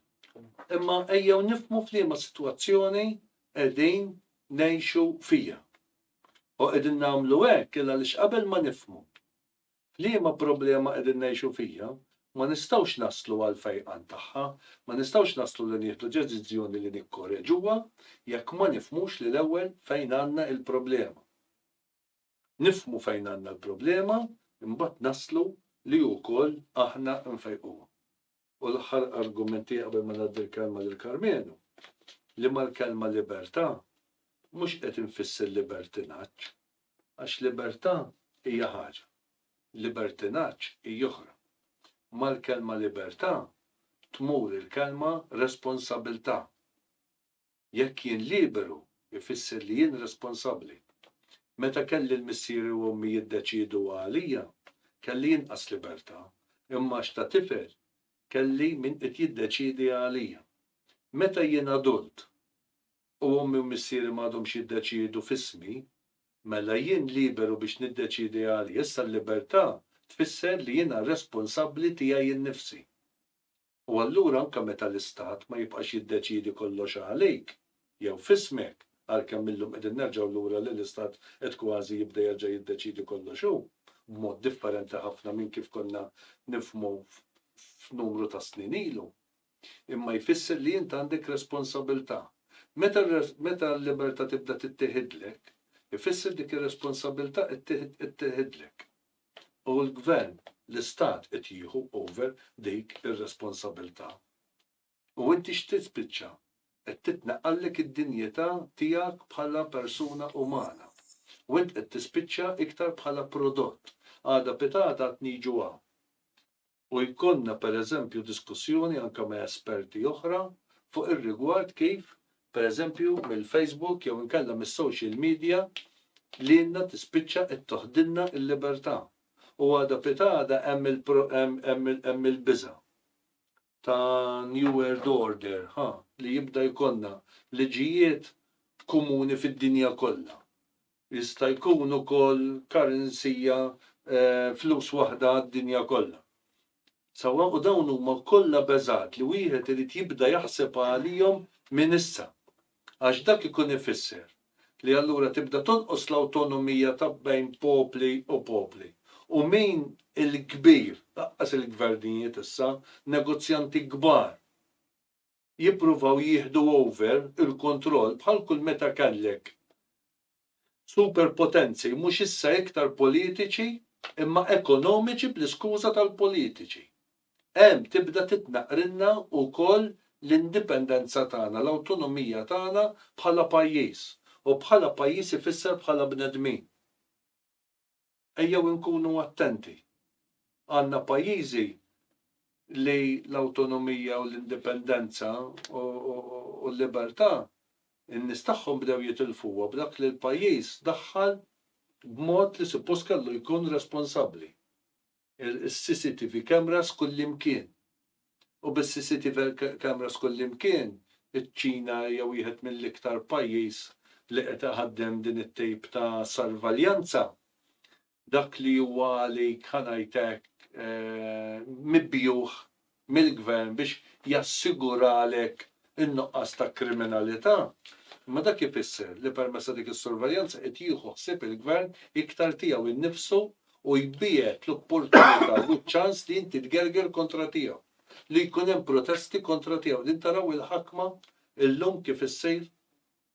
Imma ejjew nifhmu f'liema sitwazzjoni qegħdin ngħixu fiha. U qegħdin nagħmlu hekk il għaliex qabel ma nifhmu f'liema problema qegħdin ngħixu fiha, ma nistgħux naslu għall-fejqan tagħha, ma nistgħux naslu li nieħdu deċiżjoni li nikkoreġuha jekk ma nifhmux li l-ewwel fejn għandna il-problema. Nifhmu fejn għandna l-problema imbagħad naslu li wkoll aħna nfejquha. U l-aħħar argument tiegħi qabel ma ngħaddi l-kelma lil Karmenu, li mal-kelma libertà mhux qed infisser libertinaġġ, għax libertà hija ħaġa, libertinaġġ hi oħra. Mal-kelma libertà tmur il-kelma responsabilità. Jekk jien liberu jfisser li jien responsabbli. Meta kelli l-missieri u ommi jiddeċiedu għalija, kelli inqas libertà, imma għax ta' tifel kelli min qed jiddeċiedi għalija. Meta jien adult u ommi u missieri m'għadhomx jiddeċiedu f'ismi, mela jien liberu biex niddeċiedi għalija. Issa l-libertà tfisser li jiena responsabbli tiegħi nnifsi. u allura anke meta l-Istat ma jibqax jiddeċiedi kollox għalik jew f'ismek, għalkemm illum qegħdin nerġgħu lura li l-Istat qed kważi jibda jerġa' jiddeċiedi kollox hu, b'mod differenti ħafna minn kif konna nifhmu f'numru ta' snin ilu. Imma jfisser li int għandek responsabilità. Meta meta l-libertà tibda tittieħidlek, ifisser dik ir-responsabilità qed qed tittieħidlek. u l-gvern, l-istat qed jieħu over dik ir-responsabilità. U inti x'trid spiċċa? Qed titneqqallek id-dinjità tiegħek bħala persuna umana. U int qed tispiċċa iktar bħala prodott. Għada pitgħada qed niġu hawn. u jkollna pereżempju diskussjoni anke ma' esperti oħra fuq ir-rigward kif, pereżempju, mill-Facebook jew inkella mis-social media lilna tispiċċa qed toħdilna l-libertà. U għada pitgħada hemm il-biża' ta' new world order, ħa, li jibda jkollna liġijiet komuni fid-dinja kollha Jista' jkun ukoll currency hija flus waħda għad-dinja kollha. Sewwa? U dawn huma kollha beżgħat li wieħed irid jibda jaħseb għalihom minn issa. Għax dak ikun ifisser li allura tibda tonqos l-awtonomija ta' bejn popli u popli. U min il-kbir, lanqas il-gvernijiet issa, negozjanti kbar. jippruvaw jieħdu over il-kontroll bħal kull meta kellek super potenzi mhux issa iktar politiċi imma ekonomiċi bl-iskuża tal-politiċi. Hemm tibda titnaqqrilna wkoll l-indipendenza tagħna, l-awtonomija tagħna bħala pajjiż, u bħala pajjiż ifisser bħala bnedmin. Ejjew inkunu attenti. Għandna pajjiżi li l-awtonomija u l-indipendenza u l-libertà, in-nies tagħhom bdew jitilfuha b'dak li l-pajjiż daħħal b'mod li suppost kellu jkun responsabbli. il-CCTV cameras kullimkien. U bis-CCTV cameras kullimkien, iċ-Ċina hija wieħed mill-iktar pajjiż li qed iħaddem din it-tip ta' sorveljanza. Dak li huwa għalik, ħa ngħid hekk, mibjugħ mill-gvern biex jassiguralek in-nuqqas ta' kriminalità, imma dak ifisser li permezz ta' dik is-sorveljanza qed jieħu ħsieb il-gvern iktar tiegħu nnifsu u jbiegħed l-opportunità u ċ-ċans li inti tgerger kontra tiegħu, li jkun hemm protesti kontra tiegħu. Din taraw il-ħakma llum kif issir?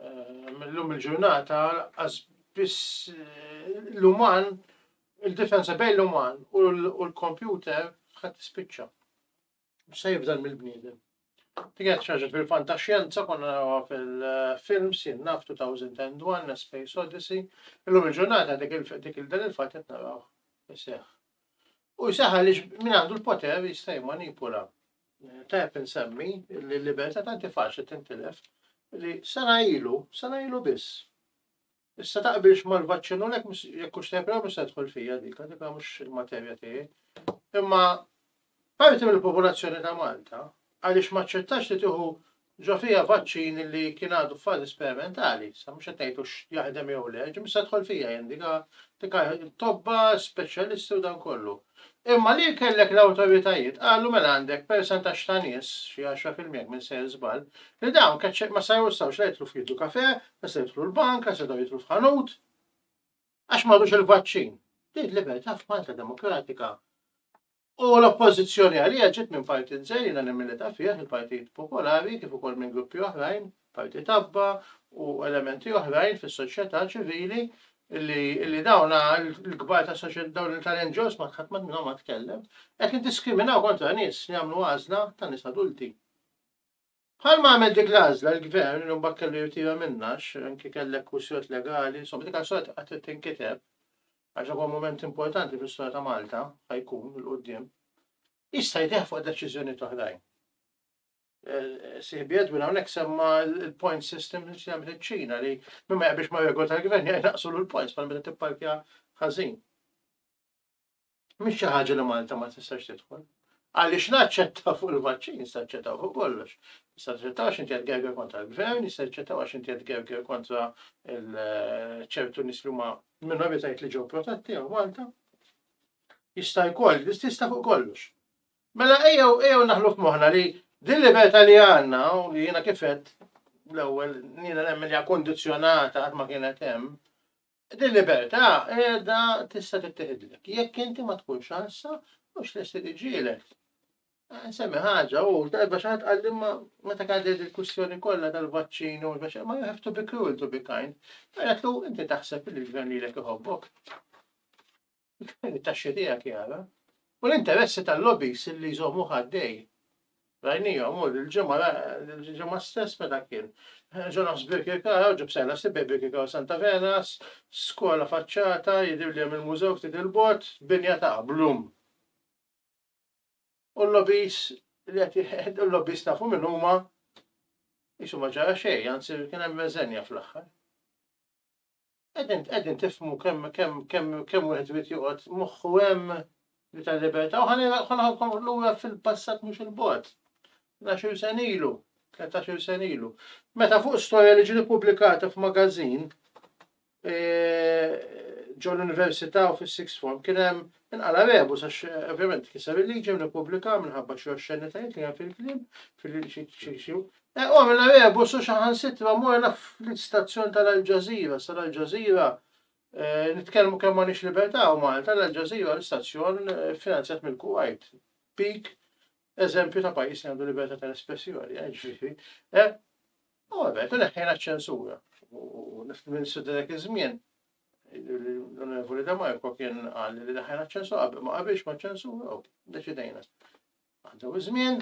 Illum il-ġurnata lanqas biss l-uman, il-differenza bejn l-uman u l-kompjuter ħadd tispiċċa. Se jifdal mill-bniedem. Tiget xaġa fil-fantaxjenza konna narawha fil-films jien naf 2001 Space Odyssey. Illum il-ġurnata dik il-dan il-fatt qed naraw iseħħ. U jseħħ għaliex min għandu l-poter jista' jmanipula Tajjeb insemmi li l-libertà tant hi faċli tintilef li sena ilu, sena ilu biss. Issa taqbilx mal-vaċċin u lek jekk hux tajjeb jew mhux se tidħol fija dik, dik mhux il-materja tiegħi. Imma parti mill-popolazzjoni ta' Malta għaliex ma ċċettax li tieħu Ġo fija vaċċin li kien għadu f'fażi sperimentali, issa mhux qed ngħid hux jaħdem jew le, ġie mistgħar tidħol fija jien dik dik tobba, speċjalisti u dan kollu. Imma li kellek l-awtoritajiet qalu mela għandek persentaġġ ta' nies, xi għaxra fil-mija jekk m'insejjer żball, li dawn keċċ ma sa jistgħux la jidħlu f'jieħdu kafè, la se jidħlu l-bank, la setgħu jidħlu f'ħanut, għax m'għadux il-vaċċin. Din libertà f'Malta demokratika U l-oppożizzjoni għaliha ġiet minn partit żgħir jiena nemmen li ta' fih il-Partit Popolari kif ukoll minn gruppi oħrajn, Partit Abba u elementi oħrajn fis-soċjetà ċivili li li dawn il-kbar ta' soċjetà dawn tal-NGOs ma ħadd minnhom ma tkellem, qed niddiskriminaw kontra nies li għamlu għażla ta' nies adulti. Bħalma għamel dik l-għażla l-Gvern li mbagħad kellu jirtira minnha għax anki kellek kwistjonijiet legali, insomma dik għażla qatt trid tinkiteb għax huwa mument importanti fl-istorja ta' Malta ħajkun il qudiem Jista' jdeh fuq deċiżjonijiet oħrajn. Eh, Siħbi Edwin hawnhekk semma l-point system li jagħmel iċ-Ċina li minn ma jaqbilx ma' regol tal-gvern jaqnaqsu l-points bħal meta tipparkja ħażin. Mhix xi ħaġa li Malta ma tistax tidħol. Għaliex naċċetta fuq il-vaċċin, jista' ċċettaw fuq kollox. Jista' ċċettaw x'inti qed gerger kontra l-gvern, jista' ċċettaw għax inti qed gerger kontra ċertu nies li huma minoritajiet li ġew protetti għal Malta. Jista' jkoll, jista' fuq kollox. Mela ejjew ejjew naħlu f'moħħna li din libertà li għandna u li jiena kifet l-ewwel jiena nemmen hija kondizzjonata qatt ma kienet hemm Din il-libertà qiegħda tista' tittieħidlek jekk inti ma tkunx ħassa mhux lesti tiġġieled. Eh, nsemmi ħaġa u darba xi ħadd qal ma meta kienet il-kwistjoni kollha tal-vaċċin u l-vaċċin ma you have to be cruel to be kind. Għaletlu inti taħseb li l-gvern lilek iħobbok. it-taxxi tiegħek jara, u l-interessi tal-lobbies li jżommu ħaddej. Rajnijom, u l-ġemma stess meta kien. Ġonas Birkirkara, ġib sena sibbe Birkirkara Santa Venas, skola faċċata, jidir li il-mużew ftit il-bot, binja ta' blum. U l-lobbies, l-lobbies nafu minn huma jisu ma ġara xej, għanzi kien hemm meżenja fl-aħħar. Qegħdin qegħdin tifhmu kemm kemm kemm kemm wieħed irid joqgħod moħħu hemm li tal-libertà u ħalli ħalħalkom lura fil-passat mhux il-bogħod. Naxir sen ilu, tletax-il sen ilu. Meta fuq storja li ġiet pubblikata f'magażin e, ġo l-università u fis-sixth form kien hemm inqala rebu sax ovvjament kiser il-liġi minn ippubblika minħabba xi oxxenitajiet li hemm fil-kliem fil-xi Hu għamilha rebus u saħansitra morna fl-istazzjon tal-Al Jazeera. Sa l-Al Jazeera nitkellmu kemm m'għandniex libertà u Malta l-Al Jazeera l-istazzjon finanzjat mill-Kuwait. Pik eżempju ta' pajjiż li għandu libertà tal-espressjoni, eh, ġifieri. Eh, u għabet, u neħħejna ċ-ċensura. U l-Ministru dak iż-żmien, l-Onorevoli De Marco kien qal li neħħejna ċ-ċensura, ma qabilx ma' ċensura u deċidejna. Għaddew iż-żmien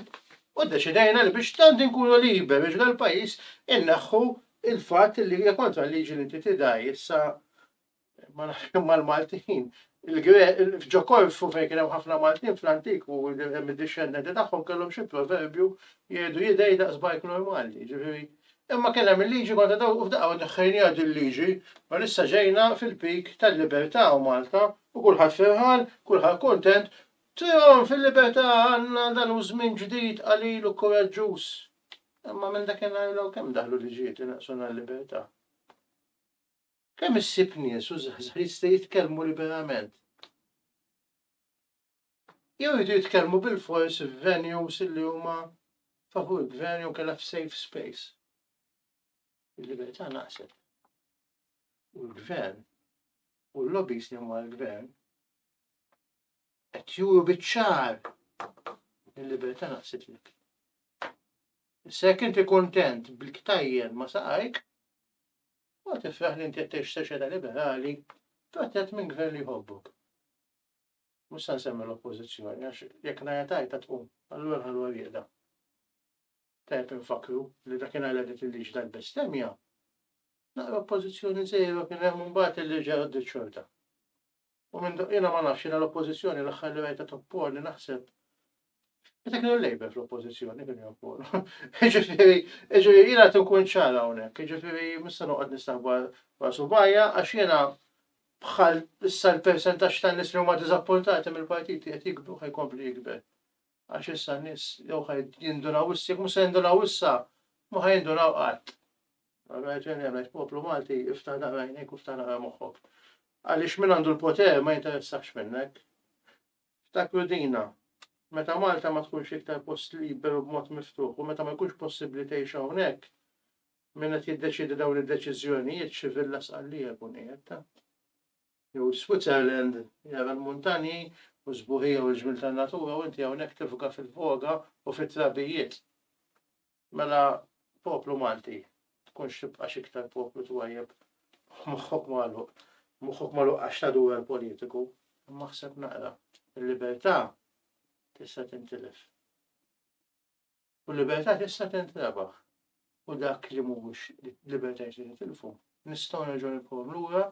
u ddeċidejna li biex tant inkunu liberi ġra l-pajjiż inneħħu l-fatt li hija kontra l-liġi li inti tidgħi issa ma nafx kemm mal-Maltin. Ġo Korfu fejn kien hemm ħafna Maltin fl-antik u hemm id-dixxendenti tagħhom kellhom xi proverbju jgħidu jidej daqs bajk normali, ġifieri. Imma kien hemm il-liġi kontra dawn u f'daqqa neħħejniha dil-liġi, u issa ġejna fil-peak tal-libertà u Malta u kulħadd ferħan, kulħadd kuntent Tihom fil-libertà għandna dan hu żmien ġdid qalil u kuraġġuż. Imma minn dakinhar 'l hawn kemm daħlu liġijiet li naqsuna l-libertà? Kemm issib nies u żgħażagħ jista' jitkellmu liberament? Jew jridu jitkellmu bilfors f'venues li huma favur il-gvern jew kellha f'safe space. Il-libertà naqset. U l-gvern u l-lobbies li huma l-gvern qed juru biċ-ċar li l-libertà naqsitlek. Issa jekk inti kuntent bil-ktajjen ma saqajk, u tifraħ li inti qed tgħix soċjetà liberali, protett minn gvern li jħobbok. Mhux se nsemmi l-oppożizzjoni għax jekk ngħid tajta tqum, allura nħallu għal Tajb infakru li dakinhar li qed il-liġi tal-bestemja, naqra oppożizzjoni żejra kien hemm imbagħad il-liġi għaddi xorta. u minn do jiena ma nafx jiena l-Oppożizzjoni l-aħħar li rajtha topponi naħseb Meta kienu l-Labour fl-oppożizzjoni kienu jopponu. Ġifieri, ġifieri jiena qed inkun ċara hawnhekk, ġifieri mista noqgħod nistaħba wara subajja għax jiena bħal issa l-persentaġġ ta' nies li huma diżappuntati mill-partiti qed jikbru ħajkompli jikber. Għax issa n-nies jew ħaj jindunaw issa, jekk mhux se jindunaw issa, ma ħajindunaw qatt. Għamel ġeni għamel poplu Malti, iftaħ naqra għajnejk u ftaħ naqra moħħok. Għaliex min għandu l-poter ma jinteressax minnek. Ftakru dina, meta Malta ma tkunx iktar post liberu b'mod miftuħ u meta ma jkunx possibbli tgħix hawnhekk, min qed jiddeċidi dawn id-deċiżjonijiet xi villa sqallija jkun qiegħed. Jew Switzerland jara l-muntanji u sbuħija u l-ġmil tan-natura u inti hawnhekk tifga fil-voga u fit-trabijiet. Mela poplu Malti, tkunx tibqa' x'iktar poplu twajjeb b'moħħok magħluq, moħħok magħluq għax ta' duwel politiku, imma ħseb naqra, il-libertà tista' tintilef. U l-libertà tista' tintrebaħ. U dak li mhux libertà jrid nitilfu, nistgħu nerġgħu nibqgħu lura,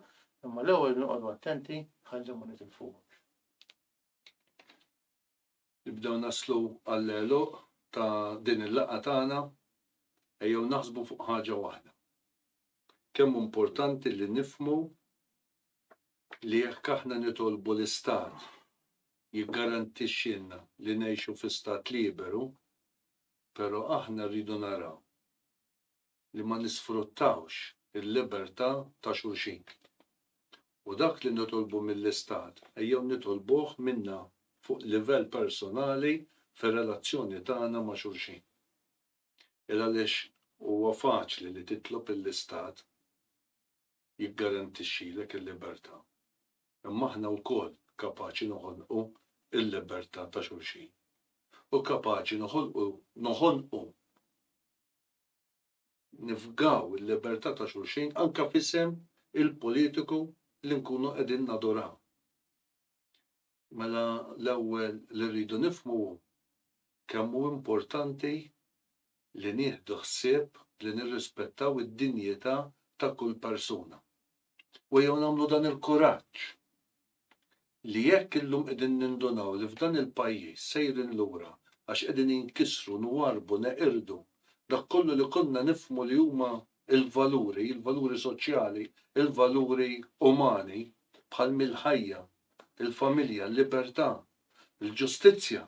imma l-ewwel noqogħdu attenti ħalli ma nitilfuhomx. Nibdew naslu għall-għeluq ta' din il-laqgħa tagħna, ejjew naħsbu fuq ħaġa waħda. Kemm hu importanti li nifhmu li jekk aħna nitolbu l-Istat jiggarantixxilna li ngħixu fi Stat liberu, però aħna rridu naraw li ma nisfruttawx il-libertà ta' xulxin. U dak li nitolbu mill-Istat ejjew nitolbuh minna fuq livell personali fir-relazzjoni tagħna ma' xulxin. Il għaliex huwa faċli li titlob lill-Istat jiggarantixxilek il-libertà, imma aħna wkoll kapaċi noħonqu l-libertà ta' xulxin u kapaċi noħolqu noħonqu nifgaw il-libertà ta' xulxin anke f'isem il-politiku li nkunu qegħdin naduraw. Mela l-ewwel li rridu nifhmu hu kemm hu importanti li nieħdu ħsieb li nirrispettaw id-dinjità ta' kull persuna. u ejjew nagħmlu dan il-kuraġġ li jekk illum qegħdin nindunaw li f'dan il-pajjiż sejrin lura għax qegħdin inkissru, nwarrbu, neqirdu dak kollu li konna nifhmu li huma l-valuri, il-valuri soċjali, il-valuri umani bħal mill-ħajja, il-familja, l-libertà, il-ġustizzja,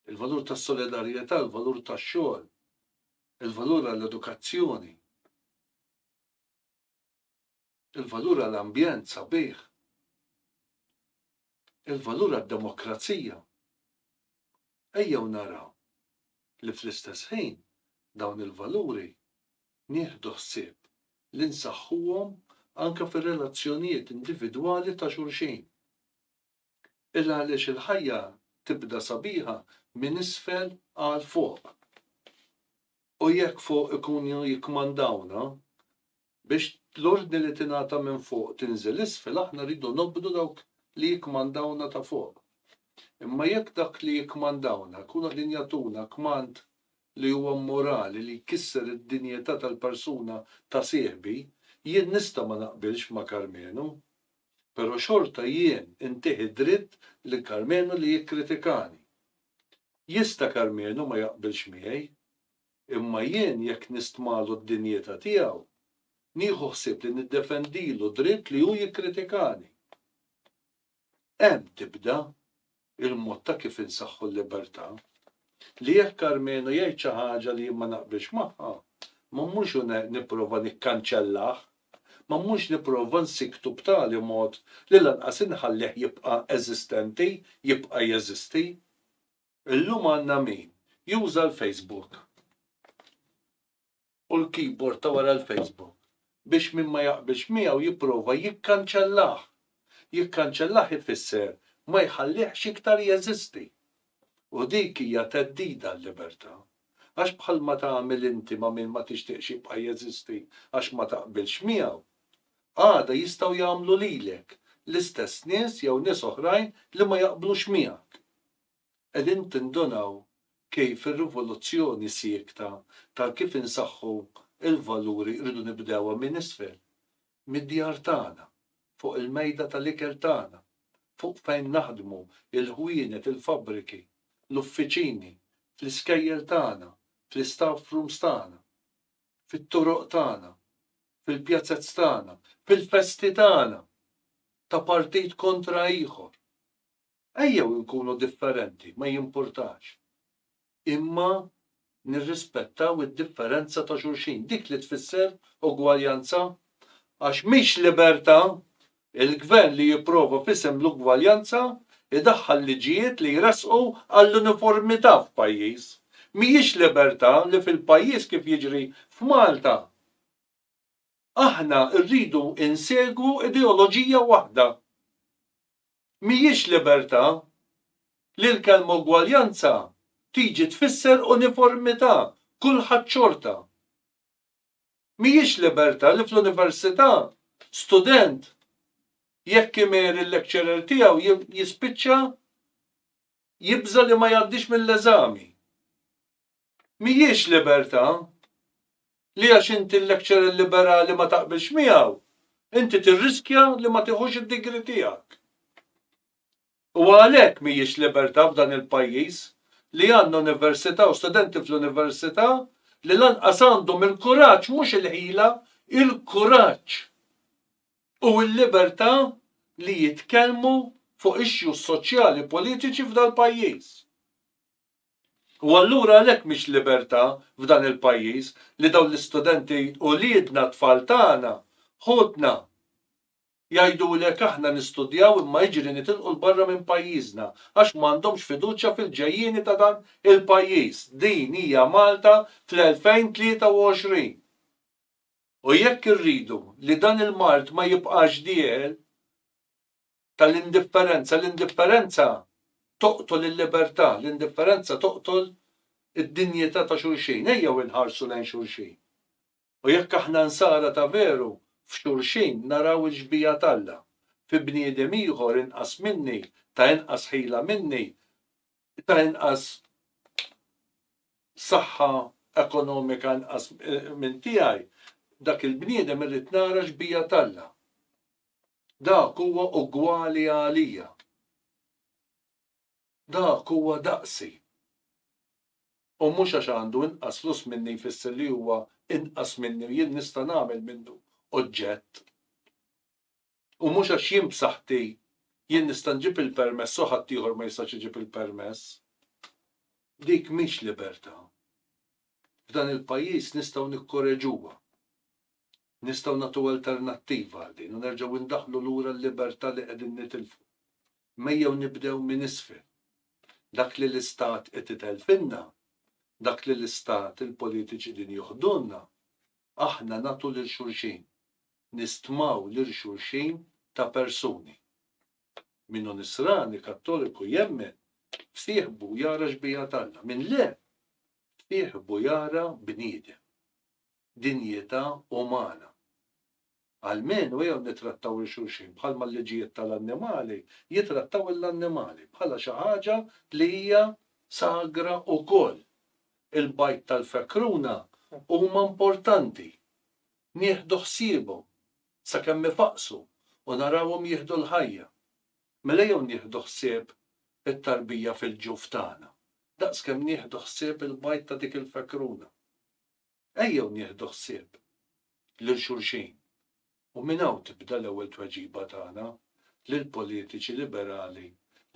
il-valur tas-solidarjetà, il-valur tax-xogħol, il-valur għall-edukazzjoni. il-valur għal ambjent sabiħ, il-valur għad-demokrazija, ejjew naraw li fl-istess ħin dawn il-valuri nieħdu ħsieb li nsaħħuhom anke fir-relazzjonijiet individwali ta' xulxin. il għaliex il-ħajja tibda sabiħa minn isfel għal fuq. U jekk fuq ikunu jikkmandawna biex l-ordni li tingħata minn fuq tinżel isfel aħna rridu nobdu dawk li jikkmandawna ta' fuq. Imma jekk dak li jikkmandawna jkunu qegħdin jagħtuna kmand li huwa mmorali li jkisser id-dinjità tal-persuna ta' sieħbi, jien nista' ma naqbilx ma' Karmenu. pero xorta jien intih id-dritt lil Karmenu li jikkritikani. Jista Karmenu ma jaqbilx miegħi, imma jien jekk nistmalu d-dinjita tiegħu, nieħu ħsieb li niddefendilu dritt li hu jikkritikani. Hemm tibda. il-mod ta' kif insaħħu l-libertà, li jekk Karmenu jgħid xi ħaġa li jien ma naqbilx magħha, ma mmurx u nipprova nikkanċellah, ma mmurx nipprova nsikktu b'tali mod li lanqas inħallih jibqa' eżistenti, jibqa' jeżisti. Illum għandna min juża l-Facebook. u l-keyboard ta' wara l-Facebook biex min ma jaqbilx miegħu jipprova jikkanċellah. Jikkanċellah ifisser ma jħallihx iktar jeżisti. U dik hija theddida għal-libertà. Għax bħalma tagħmel inti ma' min ma tixtieqx jibqa' jeżisti għax ma taqbilx miegħu, għada jistgħu jagħmlu lilek l-istess nies jew nies oħrajn li ma jaqblux miegħek. Qegħdin tindunaw kif ir-rivoluzzjoni siekta ta' kif insaħħu l-valuri rridu nibdewha minn isfel, mid-djar tagħna, fuq il-mejda tal-ikel tagħna, fuq fejn naħdmu, il-ħwienet, il-fabbriki, l-uffiċini, fl-iskejjel tagħna, fl-istaff rooms tagħna, fit-toroq tagħna, fil-pjazez tagħna, fil-festi tagħna, ta' partit kontra ieħor, Ejjew inkunu differenti, ma jimpurtax. Imma nirrispettaw id-differenza ta' xulxin, dik li tfisser ugwaljanza. Għax mhix libertà il-Gvern li jipprova f'isem l-ugwaljanza jdaħħal liġijiet li jressqu għall-uniformità f'pajjiż. Mhijiex libertà li fil-pajjiż kif jiġri f'Malta, aħna rridu insegwu ideoloġija waħda. Mhijiex libertà li l-kelma ugwaljanza tiġi tfisser uniformità, kulħadd xorta. Mhijiex libertà li fl-università student jekk imer il-lecturer tiegħu jispiċċa jibża' li ma jgħaddix mill-eżami. mhijiex libertà li għax inti lecturer liberali ma taqbilx miegħu, inti tirriskja li ma tieħux id-degree tiegħek. U għalhekk mhijiex libertà f'dan il-pajjiż li għandna università u studenti fl-università li lanqas għandhom il-kuraġġ mhux il-ħila, il-kuraġġ u l-libertà li jitkellmu fuq issues soċjali politiċi f'dal-pajjiż. U allura għalhekk mhix libertà f'dan il-pajjiż li dawn l-istudenti uliedna t-tfal tagħna, ħutna, jgħidulek aħna nistudjaw imma jiġri nitilqu 'l barra minn pajjiżna għax m'għandhomx fiduċja fil-ġejjieni ta' dan il-pajjiż. Din hija Malta fl-2023. U jekk irridu li dan il-mard ma jibqax dieħel, tal-indifferenza, l-indifferenza toqtol il-libertà, l-indifferenza toqtol id-dinjità ta' xulxin. Ejjew inħarsu lejn xulxin. U jekk aħna nsara ta' veru, f'xulxin naraw il-xbieha t'Alla. Fi bniedem ieħor inqas minni, ta' inqas ħila minni, ta' inqas saħħa ekonomika inqas minn tiegħi, dak il-bniedem irrid nara xbieha t'Alla. Dak huwa ugwali għalija. Dak huwa daqsi. U mhux għax għandu inqas flus minni jfisser li huwa inqas minni u jien nista' nagħmel minnu oġġett. U mhux għax jien b'saħħti jien nista' nġib il-permess u ħaddieħor ma jistax iġib il-permess. Dik mhix libertà. F'dan il-pajjiż nistgħu nikkoreġuha. Nistgħu nagħtu alternattiva għal din u nerġgħu ndaħħlu lura l-libertà li qegħdin nitilfu. Mejjew nibdew minn isfel. Dak li l-Istat qed itelfilna, dak li l-Istat, il-politiċi qegħdin joħdulna, aħna nagħtu lil xulxin. Nistmaw lil xulxin ta' persuni. Min hu Nisrani, Kattoliku, jemmen, f'sieħbu jara xbieha t'Alla. Min le, f'sieħbu jara bniedem. dinjità umana. Almenu jew nittrattaw 'il xulxin bħalma l-liġijiet tal-annimali jittrattaw 'il annimali, bħala xi ħaġa li hija sagra ukoll. Il-bajd tal-fekruna huma importanti. Nieħdu ħsiebhom sakemm ifaqqsu u narawhom jieħdu l-ħajja. Mela jew nieħdu ħsieb it-tarbija fil-ġuf tagħna, daqskemm nieħdu ħsieb il-bajd ta' dik il-fekruna. Ejjew nieħdu ħsieb lil xulxin u minn hawn tibda l-ewwel tweġiba tagħna lill-politiċi liberali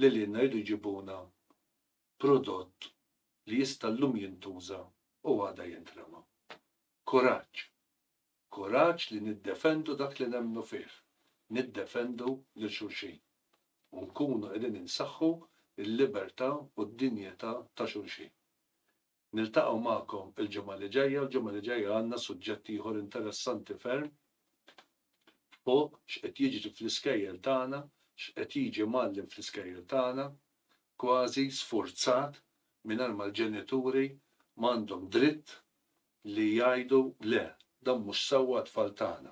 li lilna jridu jġibuna prodott li jista' llum jintuża u għada jintrema. Kuraġġ! Kuraġġ li niddefendu dak li nemmnu fih, niddefendu lil xulxin u nkunu qegħdin insaħħu l-libertà u d-dinjità ta' xulxin. Niltaqgħu magħkom il-ġimgħa li ġejja, l-ġimgħa li ġejja għandna suġġett ieħor interessanti ferm fuq x'qed jiġri fl-iskejjel tagħna, x'qed jiġi mgħallem fl-iskejjel tagħna, kważi sfurzat mingħajr ma l-ġenituri ma għandhom dritt li jgħidu le, dan mhux sewwa għat-tfal tagħna.